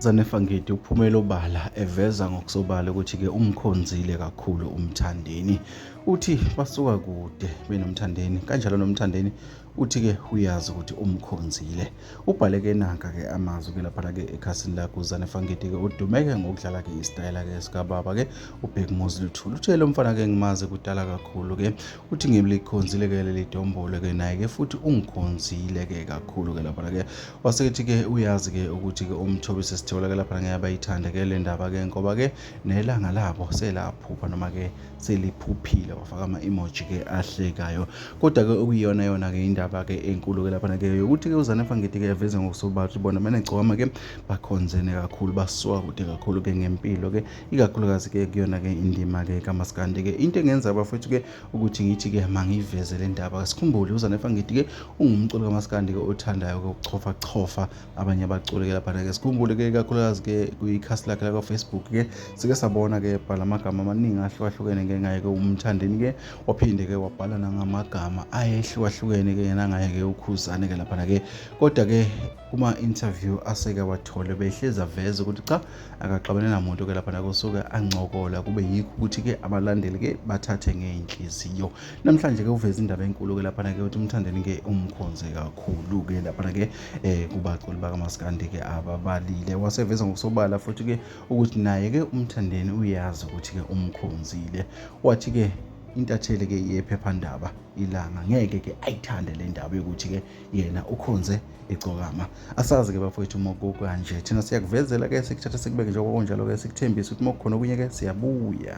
Zane Fangidi uphumela obala eveza ngokusobala ukuthi-ke umkhonzile kakhulu umthandeni. Uthi basuka kude benomthandeni kanjalo nomthandeni uthi-ke uyazi ukuthi umkhonzile. Ubhaleke nanka-ke amazwi-ke laphana-ke ekhasini lakhe uzane Fangidi-ke udumeke ngokudlala-ke isitayela-ke sikababa-ke ubhekumuzi luthulu. Utshele umfana-ke ngimazi kudala kakhulu-ke uthi ngilikhonzile ke leli dombolo ke naye ke futhi ungikhonzile ke kakhulu ke lapha ke wasekethi ke uyazi ke ukuthi ke umthobi sesithola ke lapha ngeke bayithande ke le ndaba ke ngoba ke nelanga labo selaphupha noma ke seliphuphile wafaka ama emoji ke ahlekayo kodwa ke okuyiyona yona ke indaba ke enkulu ke lapha ke ukuthi ke uzane fangithi ke yaveza ngokusobala bona manje gcoma ke bakhonzene kakhulu basuka kude kakhulu ke ngempilo ke ikakhulukazi ke kuyona ke indima ke kamaskandi ke into engenza abafethu ke ukuthi ngithi ke mangiveze le ndaba sikhumbule uzanefa ngithi ke ungumculo kamaskandi ke othandayo ke ukuchofa chofa abanye abaculi ke lapha ke sikhumbule ke ikakhulukazi ke kwikhasi lakhe lakwa Facebook ke sike sabona ke bhala amagama amaningi ahlukahlukene ke ngaye ke umthandeni ke waphinde ke wabhala nangamagama ayehlukahlukene ke yena ngaye ke ukhuzane ke lapha ke kodwa ke kuma-interview aseke wathole behlezi aveze ukuthi cha akaxabene namuntu ke lapha nakusuke ancokola kube yikho ukuthi-ke abalandeli-ke bathathe ngey'nhliziyo namhlanje-ke uveze indaba enkulu-ke laphana-ke ukuthi umthandeni-ke umkhonze kakhulu-ke laphana-ke um eh, kubaculi bakamaskandi-ke ababalile waseveza ngokusobala futhi-ke ukuthi naye-ke umthandeni uyazi ukuthi-ke umkhonzile wathi-ke intatheli-ke yephephandaba ilanga ngeke-ke ayithande le ndaba yokuthi-ke yena ukhonze igcokama asazi-ke bafowethu uma kukanje thina siyakuvezela-ke sikuthatha sikubeke njengoba kunjalo-ke sikuthembise ukuthi uma kukhona okunye-ke siyabuya